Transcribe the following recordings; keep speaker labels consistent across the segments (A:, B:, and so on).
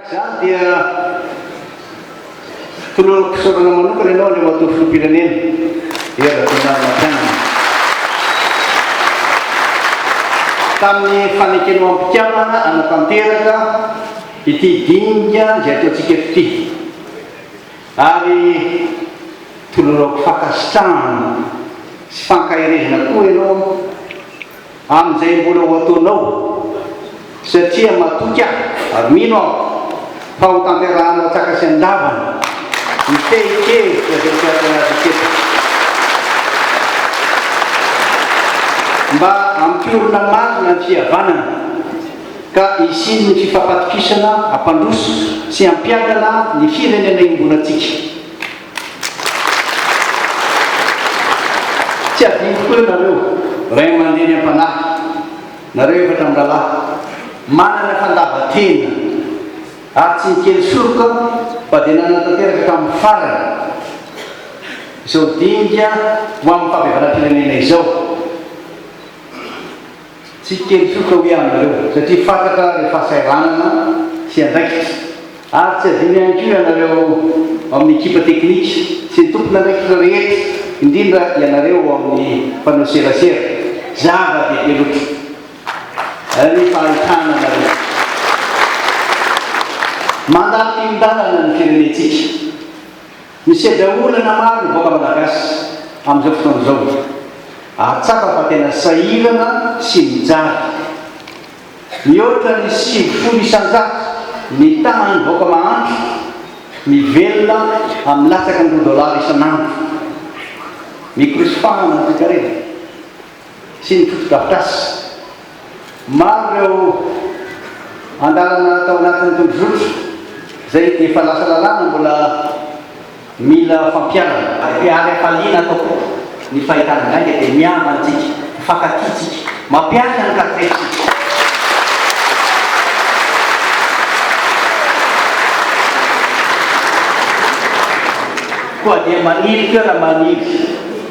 A: Izany dia toloram-pisaorana manokana ianao Andriamatoa Filoham-pirenena Hery Rajaonarimampianina tamin'ny fanekenao am-pikambana hanatanteraka ity dinika izay ataontsika eto ity ary tolorako fankasitrahana sy fankaherezana koa ianao Amin'izay mbola ho ataonao, satria matoky aho ary mino aho fa hotanterahanao an-tsaka sy an-davany ny fehin-kevitra izay tiantsika hatokisana. Mba hampiorina marina ny fihavanana ka hisian'ny fifampatokisana hampandroso sy hampiadana ny firenena iombonantsika. Tsy hadino tokoa eo nareo ray aman-dreny am-panahy, nareo efatra mirahalahy, manana fandava-tena ary tsy nikely soroka fa dia nanatanteraka hatramin'ny farany izao dinga ho amin'ny fahabevaram-pirenena izao. Tsy hiteny foko aho hoe anareo, satria fantatra ny fahasahiranana sy andraikitra. Ary tsy adino ihany koa ianareo ao amin'ny ekipa teknika sy ny tompon'andraikitra rehetra, indrindra ianareo ao amin'ny mpanao serasera. Zava-dehibe loatra ny fahitana anareo. Mandà firindanana ny firenentsika. Misedra olana maro ny vahoaka Malagasy amin'izao fotoana izao ary tsapa fa tena sahirana sy mijaly. Mihoatra ny sivifolo isan-jato ny tanan'ny vahoaka mahantra mivelona amin'ny latsaky ny roa dolara isan'andro. Mikorosy fahana ny toekarena. sy ny fotodrafitrasa. Maro ireo andalana tao anatin'ny tondrozotra izay efa lasa lalàna mbola mila fampiharana. Ary hafaliana ato koa ny fahitana gainga dia mihaava antsika, mifankatia tsika, mampiasa ny kartre tsika. Koa dia maniry toera maniry.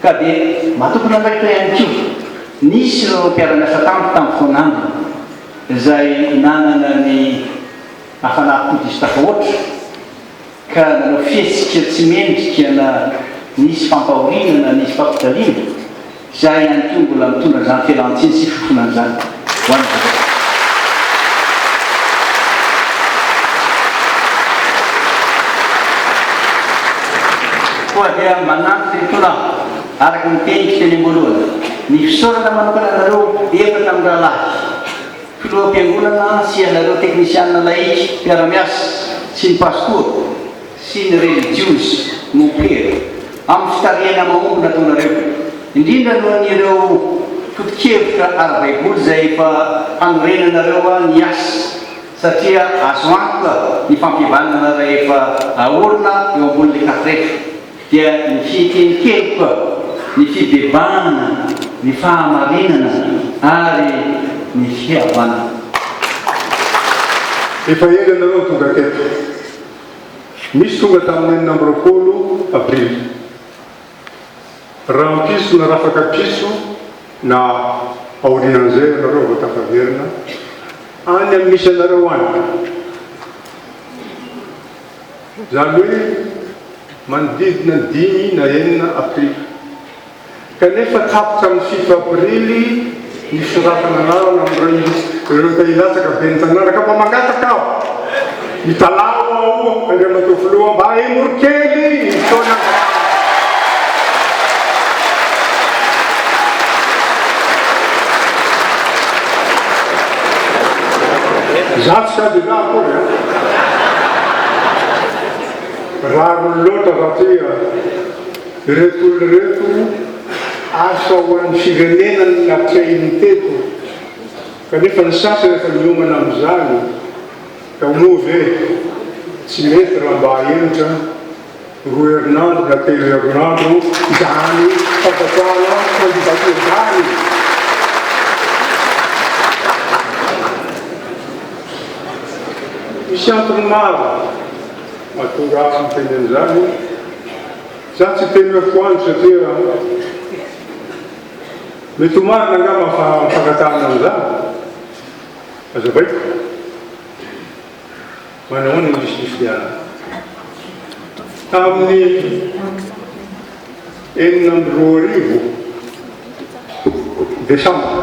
A: Ka dia matokon'andraikitra ihany koa, nisy ireo mpiara-miasa tamiko tamin'ny foan'andro izay nanana ny hafanam-po diso tafahoatra ka nanao fihetsika tsy mendrika na nisy fampahoriana na nisy fampijaliana, izaho ihany koa mbola mitondra izany fialan-tsiny sy fifofonana izany. ho an'ny vahoaka. Koa dia manampy ireto tolagniko, araka ny teniko teny am-boalohany, ny fisaorana manokana anareo efatra mirahalahy, Filoham-piangonana sy ianareo teknisiana lahika mpiara-miasa sy ny Pastora, sy ny relijiozy, mompera, amin'ny fitarihana mahomby nataonareo, indrindra noho ny ireo foto-kevitra ara-baiboly izay efa hanorenanareo ahy ny asa, satria azo antoka ny fampihavanana rahefa aorina eo ambonin'ny kafretra, dia ny fiheken-keloka, ny fibebahana, ny fahamarinana ary ny fihavanana.
B: Efa ela ianareo no tonga teto. Nisy tonga tamin'ny enina amby roapolo Aprily. Rahampitso na rafaka pitso na aorian'izay ianareo vao tafaverina any amin'ny misy anareo any. Izany hoe manodidina ny dimy na enina Aprily. kanefa tapitra amin'ny fito aprily ny fisoratan'anarana amin'ireo te hilatsaka ben'ny tanàna ka mba mangataka aho, mitalaho aho Andriamatoa Filoha mba hemory kely ny fotoana mba Zato sa dila akory an? Rariny loatra raha ty an! Ireto olona ireto asa ho an'ny firenena no natrehiny teto kanefa ny sasany efa niomana amin'izany ka moa ve tsy mety raha mba ahemotra roa herinandro na telo herinandro izany fangatahana candidature izany? Misy antony maro. Mahatonga ahy tsy miteny an'izany io. Za tsy hiteny hoe foano satria mety ho marina angamba fa mifankatanina amin'izany. Hazavaiko. Manahoana i Lisy Diana. Tamin'ny enina amby roa arivo desambra.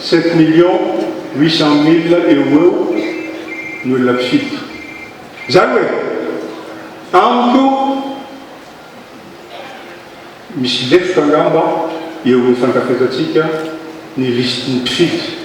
B: Sept millions huit cent mille eo ho eo ny olona mpifidy. Izany hoe amiko misy lefitra angamba eo amin'ny fankafetantsika ny listin'ny mpifidy.